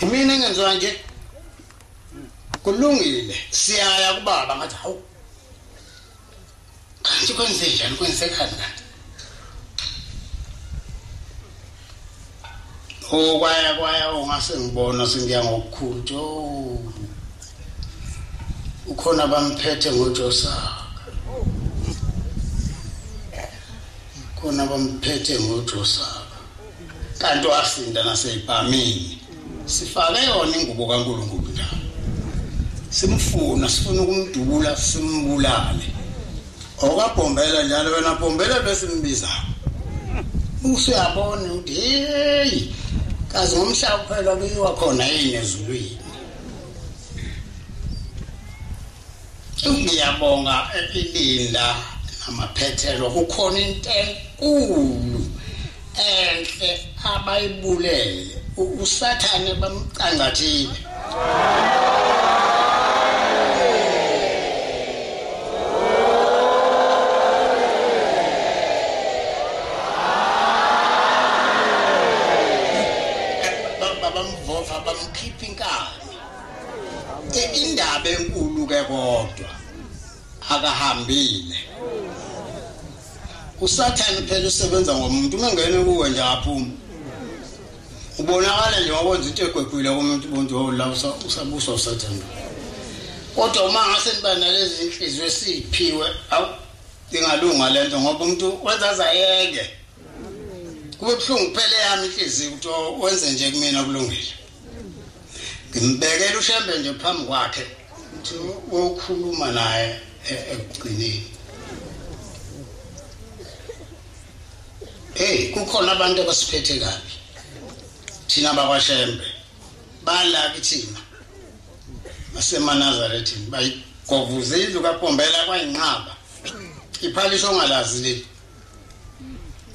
Imina engenziwa nje. Kulungile, siyaya kubaba ngathi hawu. Kanti kwenze njani kwenzekhani kanti? Oh kwaya kwaya ungase ngibona sengiya ngokukhulu jo. Ukhona bamphethe ngoJosa. Khona bamphethe ngoJosa. kanti wasinda naseyibhamini sifake yona ingubo kaNkulunkulu ndawo simfuna sifuna ukumdubula simbulale okabhombela njalo wena bhombela bese mbiza buso yabona ukuthi hey kaze ngomhlaba kuphela kuyiwa khona yini ezulwini Ngiyabonga elinda namaphethelo kukhona into enkulu enhle abayibulele usathane bamqangathile. indaba enkulu ke kodwa akahambile usathane phela usebenza ngomuntu uma ngene kuwe nje aphuma ubonakala nje wakwenza into egwegwile komuntu ubuntu wawula usabusa usathane kodwa uma ngase niba nalezi nhliziyo esiphiwe awu ingalunga le nto ngoba umuntu wenza azayeke kube buhlungu kuphele yami inhliziyo ukuthi wenze nje kumina kulungile ngimbekela ushembe nje phambi kwakhe ukuthi wokhuluma naye e, ekugcineni hey kukhona abantu abasiphethe kabi thina bakwashembe bala kithina basemanazarethini bayigovuza indlu kapombela kwayinqaba iphalisho ongalazi leli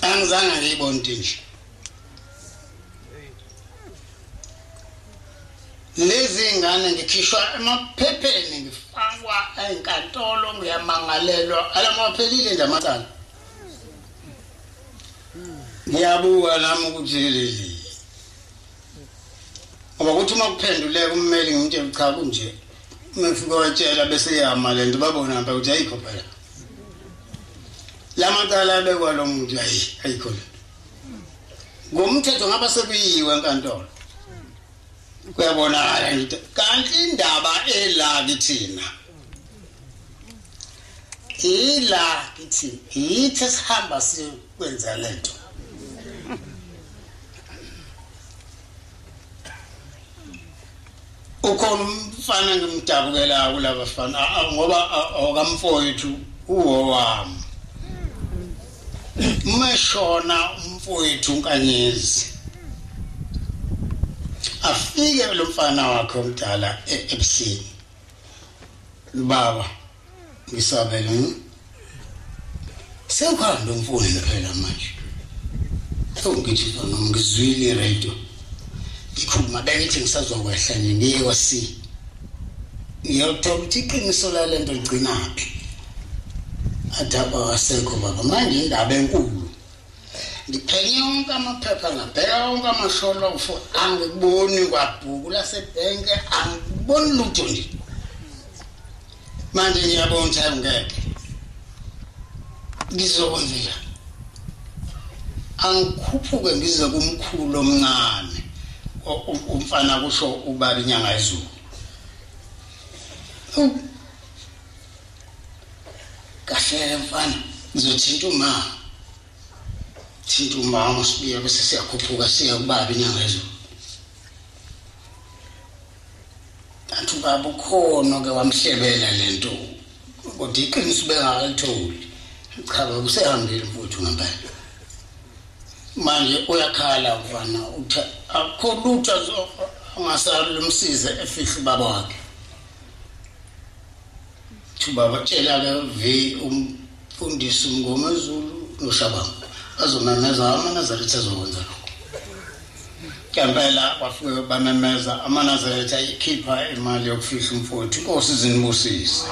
angizange ngiyibonti nje lezi ngane ngikhishwa emaphepheni ngifakwa enkantolo ngiyamangalelwa alamaphelile nje amacala ngiyabuka nami ukuthi leli ngoba kuthi uma kuphenduleka ummeli ngimtshela cha kunje uma fika watshela bese yama le nto babona mpa ukuthi ayikho phela la macala abekwa lo muntu ayi ayikho le ngomthetho ngaba sekuyiwe enkantolo kuyabonakala into kanti indaba ela kithina ila kithi yithi sihamba sikwenza lento Ukhona umfana ngimdabukelayo kulaba fana ngoba awakamfowethu uwowami. Umeshona umfowethu uNkanyezi. Afike lo mfana wakhe omdala e-Epsini. Baba Ngisabela ngi. Sewuhambe mfowethu phela manje. Sewungitshisa noma ngizwile iradio. Ngikhuluma bengithi ngisazokwehla nje ngiye kwa C. Ngiyothola ukuthi iqiniso lalento ligcinaphi. Adaba wasekho baba manje indaba enkulu. ngiphenye onke amaphepha ngabheka onke amasholofu angiboni kwabhuku lasebhenke angiboni lutho nje manje ngiyabona ukuthi ayingeke ngizokwenzela angikhuphuke ngize kumkhulu omncane umfana kusho ubaba inyanga izulu kahleke mfana ngizothinta umama thinta umama usibuye bese siyakhuphuka siya kubaba inyanga ezulu kanti ubaba ukhona ke wamhlebela le nto kodwa iqiniso ubengakalitholi cha baba usehambile mfuthu ngempela manje uyakhala mfana uthi akho lutho angasalumsize efihle ubaba wakhe thuba batshela ke ve umfundisi umngomezulu noshabanga azomemeza amanazaretha azokwenza lokho ngempela bafike bamemeza amanazaretha ikhipha imali yokufihla umfowethu inkosi zinibusise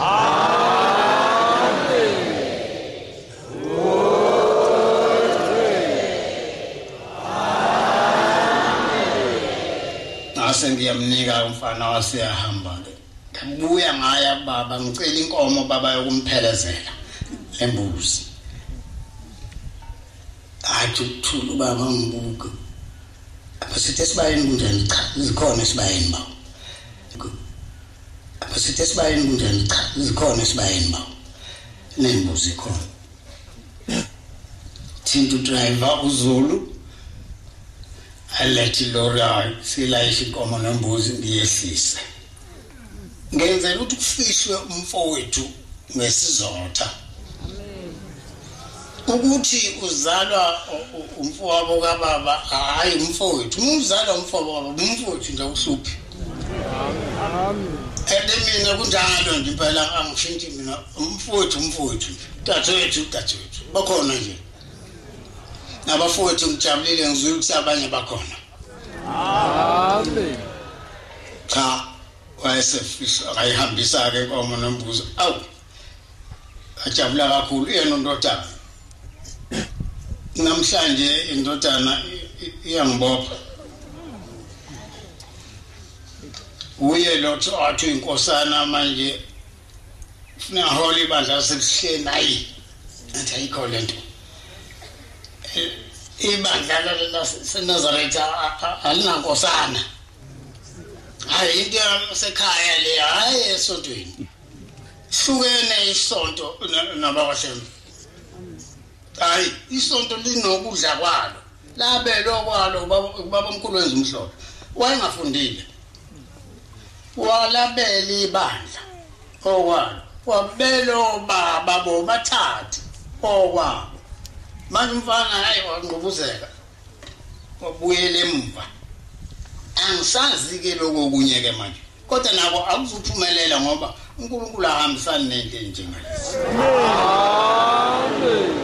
ngase ngiyamnika umfana waseyahamba-ke Ngibuya ngaya baba ngicela inkomo baba yokumphelezela embuzi. Athi ukuthula ubaba ngibuke. Abasithe sibayeni kunjani cha zikhona sibayeni baba. Abasithe sibayeni kunjani cha zikhona sibayeni baba. Nembuzi khona. thinta udriver uzulu alethe ilori ayo silayishe inkomo nembuzi ngiyehlise ngenzela ukuthi kufihlwe umfowethu ngesizotha ukuthi uzalwa umfowabo kababa hayi umfowethu umzalwa umfowabo kababa umfowethu nje uhluphi ende mina kunjalo nje impela angishintshi mina umfowethu umfowethu Dadewethu, dadewethu, bakhona nje. Nabafowethu ngijabulile ngizwile ukuthi abanye bakhona. Amen. Cha, wayesefisa ayihambisa ke inkomo nombuzo. Awu. Ajabula kakhulu yena undodana. Namhlanje indodana iyangibopha. Uye lo athi inkosana manje funa hola ibandla lasebuhleni ayi athi ayikho le nto ibandla lasenazaretha alinankosana hayi into yasekhaya le hhayi esontweni hlukene isonto nabakwahlema hayi isonto linokudla kwalo Labelwe okwalo ubaba omkhulu wenza umhlolo. Wayengafundile. Walabela ibandla okwalo. Wabelo baba bobathathu okwabo. Manje umfana hayi wangqubuzeka. Wabuyela emuva. Angisazi ke lokho kunye ke manje. kodwa nako akuzuphumelela ngoba uNkulunkulu ahambisani nento enjengalesi amen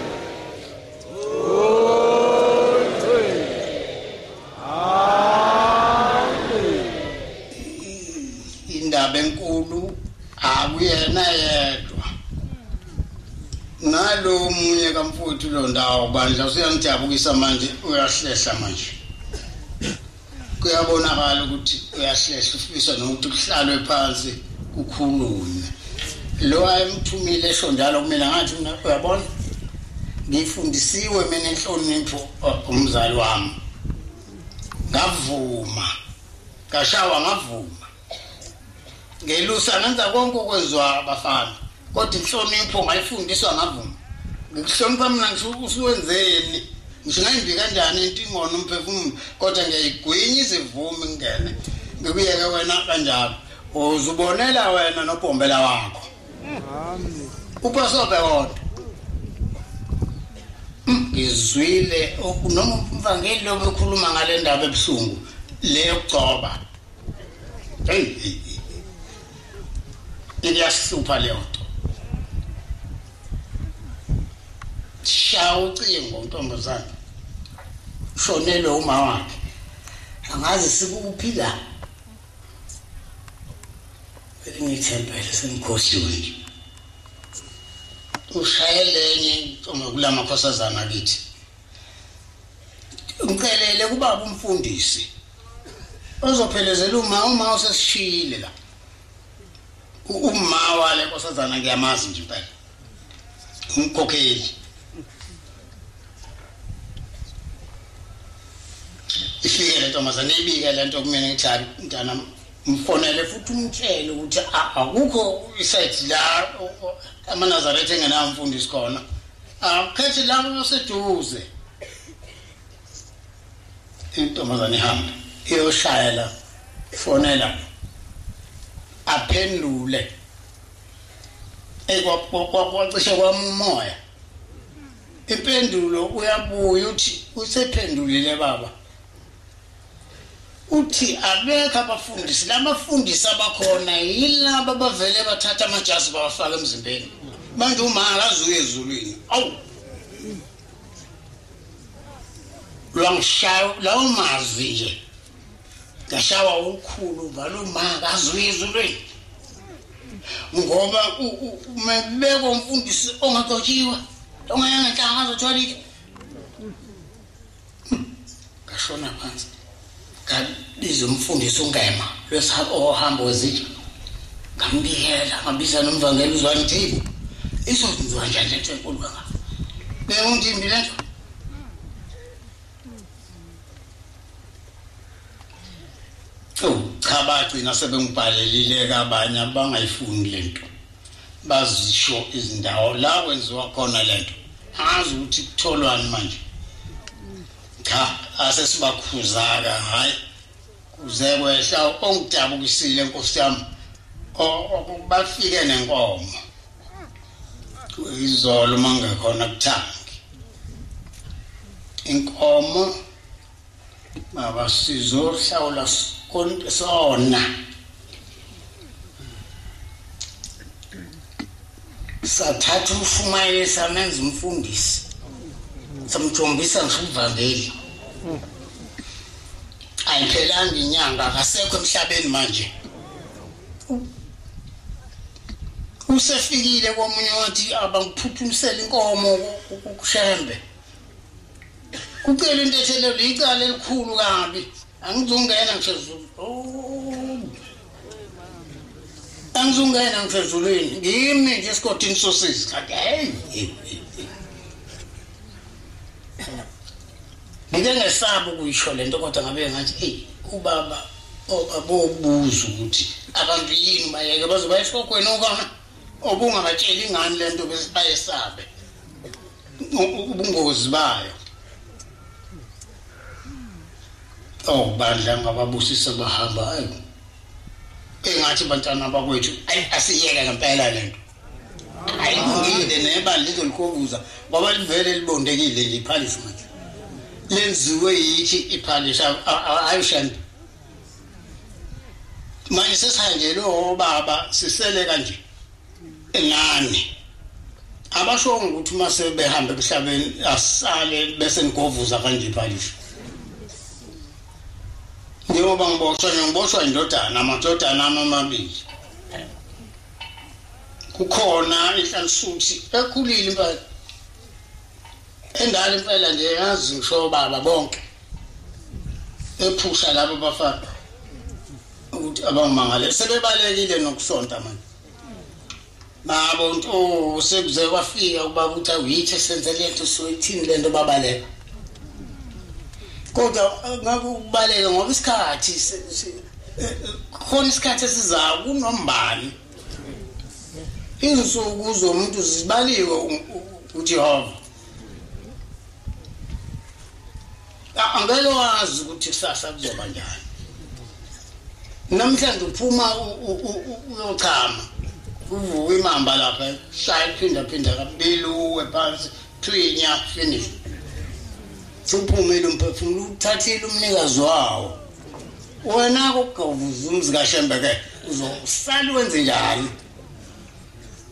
indaba enkulu akuyena yedwa nalo munye kamfuthu lo ndawo bandla usuyangijabukisa manje uyahlehla manje kuyabonakala ukuthi uyahlehla ufisa nokuthi kuhlalwe phansi kukhulunywe lo ayemthumile esho njalo kumina ngathi mina uyabona ngifundisiwe mina inhlonipho uh, umzali wami ngavuma kashawa ngavuma ngelusa ngenza konke okwenziwa abafana kodwa inhlonipho mayifundiswa ngavuma ngikuhlonipha mina ngisho usuwenzeni ngisho ngayimbi kanjani into ingona umphefumulo kodwa ngiyayigwinya izivumi ngingene ngikuyeke wena kanjalo uzubonela wena nobhombela wakho upasobe wodwa hmm, ngizwile noma umvangeli lobe ekhuluma ngale ndaba ebuhlungu leyokugcoba hey iyasihlupha leyo nto shaya ucingo ntombazane shonelwe uma wakhe angazi sikuphila ngithempele sengikhohliwe nje ushayele enye intombi kulamakhosazana kithi ngicelele kubaba umfundisi ozophelezela uma uma usesishiyile la uma wale nkosazana ngiyamazi nje impela umkhokheli ifike le ntombazane ibike le nto kumina ngithi hayi mntana mfonele futhi umtshele ukuthi akukho isayidi la amanazaretha engenamfundisi khona Awukhethe la uyoseduze. Intombazane ihamba iyoshaya la. Fonela. Aphendule. Ekwakwacishe kwamumoya. Impendulo uyabuya uthi usephendulile baba. Uthi abekho abafundisi, labafundisi abakhona yilaba bavele bathatha amajazi bawafaka emzimbeni. Manje uma akazuye ezulwini. Awu. Lwangishaya lawo mazwi nje. Ngashawa ukhulu ngalo ma akazuye ezulwini. Ngoba umebeko umfundisi ongagotshiwa. Ongayanga nhlanga azothola ngashona phansi ngabiza umfundisi ungema lwesihamba wezitsha ngambikela ngabiza nomvangeli uzwani thibu izokwenziwa njani lento enkulu kangaka bewundimbi lento cha bagcina sebengibhalelile kabanye abangayifundi lento bazisho izindawo la kwenziwa khona lento angazi ukuthi kutholwani manje cha asesibakhuzaka hayi kuze kwehla ongidabukisile nkosi yami okubafike nenkomo izolo mangekhona kuthangi inkomo Baba sizohlawula konke sona. Sathatha umshumayeli samenza umfundisi. Samjombisa ngisho uvangeli. Ayiphelanga inyanga akasekho emhlabeni manje. Usefikile komunye wathi abangiphuthumisela inkomo kushembe. Kucela intethelelo icala elikhulu kabi. Angizungena ngisho Zulu. Oh. Angizungena ngisho ezulwini. Ngimi nje esikotini sosisi. Kanti hey. Ngike ngesaba ukuyisho lento kodwa ngabe ngathi hey ubaba obabobuza ukuthi abantu yini bayeke bazoba esikhokweni okona obungabatsheli ngani lento bese bayesabe ubungozi bayo oh bandla ngababusisa bahamba engathi bantwana bakwethu ayi asiyeke ngempela lento ayilungile nebali lizolikobuza ngoba livele libondekile nje iphalishi manje lenziwe yithi iphalishi ayishanda manje sesihanjelwe obaba sisele kanje ngani abasho ukuthi uma sebehambe emhlabeni asale bese ngigovuza kanje phalisho njengoba ngiboshwa ngiboshwa indodana amadodana ami amabili kukhona inhlalisuthi ekhulile impela Ingane impela nje yazi ngisho obaba bonke. Ephusha labo bafana. Ukuthi abangimangale sebebalekile nokusonta manje. Nabo nto oh, sekuze kwafika ukuba ukuthi awuyithe senze lento soyithini lento babaleka. Kodwa eh, ngakubaleka ngoba isikhathi khona isikhathi esizayo kunombani Izinsuku zomuntu zibaliwe uJehova. Angeke wazi ukuthi kusasa kuzoba njani. Namhlanje uphuma uyochama. Uvuka imamba lapha, shaya phinda phinda kabili uwe phansi, thwinya finish. Suphumile umphefumulo uthathile umnikazi wawo. wena kugovuza umzi kashembe ke uzosali wenze njani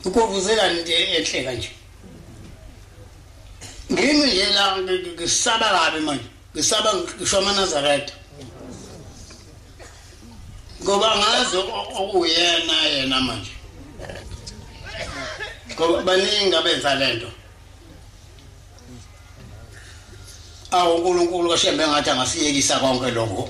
ugovuzelani into enhle kanje ngimi nje la ngisaba kabi manje ngisaba ngisho amanazaretha ngoba ngazi okuyena yena manje ngoba baningi abenza le nto awu uNkulunkulu oshembe ngathi angasiyekisa konke lokho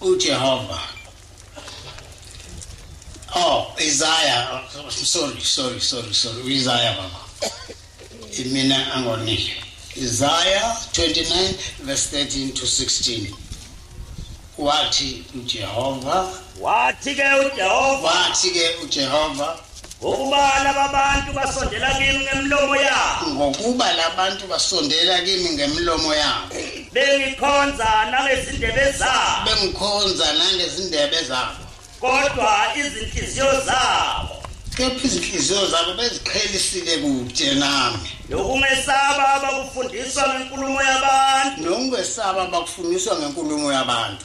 uJehova oh Isaiah sorry sorry sorry sorry Isaiah baba imina angonike Isaiah 29 verse 13 to 16 wathi uJehova wathi ke uJehova wathi ke uJehova Ngokuba lababantu basondela kimi ngemlomo yabo. Ngokuba labantu basondela kimi ngemlomo yabo. Bengikhonza nangezindebe zabo. Bengikhonza nangezindebe zabo. Kodwa izinhliziyo zabo kepha izinhliziyo zabo beziqhelisile kude nami nokungesaba abakufundiswa ngenkulumo yabantu nokungesaba abakufundiswa ngenkulumo yabantu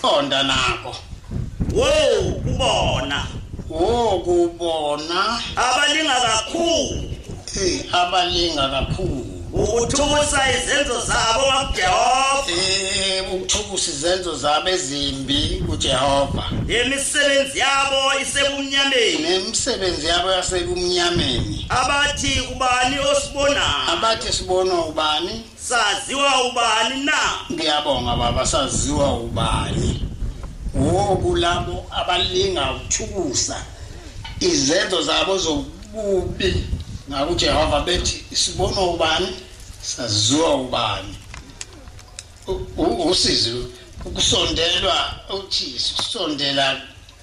Qonda nako. Wo kubona. Wo kubona. Abalinga kakhulu. Hey abalinga kakhulu. ukuthukusa izenzo zabo kwaJehova eh ukuthukusa izenzo zabo ezimbi kuJehova imisebenzi yabo isebumnyameni nemisebenzi yabo yasebumnyameni abathi ubani osibonayo abathi sibona ubani Saziwa ubani na? Ngiyabonga baba saziwa ubani. Woku labo abalinga ukuthukusa izenzo zabo zokubi ngakuJehova bethi sibona ubani saziwa ubani. Usizi ukusondelwa uthi sisondela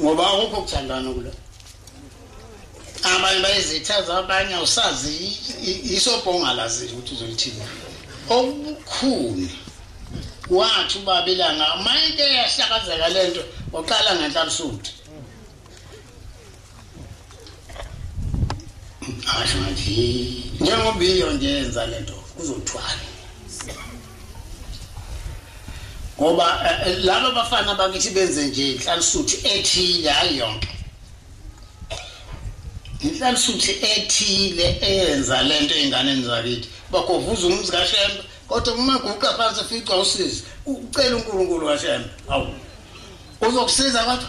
ngoba akukho kuthandana kulo abanye bayizitha zabanye awusazi isobhongalazi ukuthi uzolithini okukhulu wathi ubaba ilanga mayike yahlakazeka lento waqala ngenhla busuthi asho ngathi njengoba iyo nje yenza le nto kuzothwala ngoba eh, eh, laba bafana bakithi benze nje inhlalisuthi ethile hayi yonke inhlalisuthi ethile eyenza le nto ey'nganeni zakithi bagovuza umuzi kashembe kodwa uma guqa phansi fica usizi ucela unkulunkulu kashembe awu uzokusiza kodwa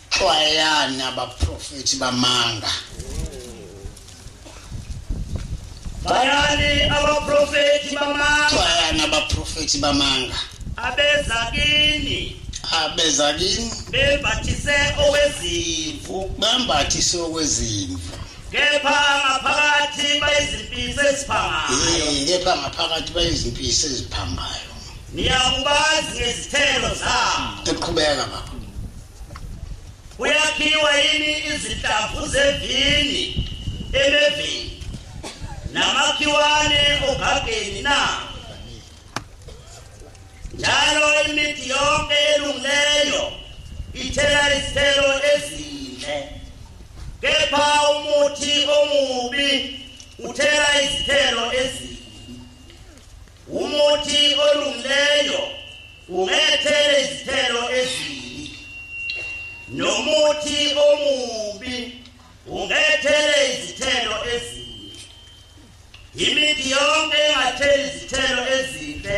xwayani abaprofethi bamanga bayani abaprofethi bamanga xwayani abaprofethi bamanga abeza kini abeza kini bembathise okwezimvu bembathise okwezimvu kepha ngaphakathi bayizimpisi eziphangayo kepha ngaphakathi bayizimpisi eziphangayo niyakubazi ngezithelo zabo eqhubeka baba Kuyakhiwa yini izinhlamvu zevini emevini namakhiwane ogageni na? Njalo imithi yonke elungileyo ithela izithelo ezinhle. Kepha umuthi omubi uthela izithelo ezinhle. Umuthi olungileyo ungethele izithelo ezibi nomuthi omubi ungethele izithelo ezibi imithi yonke engatheli izithelo ezibi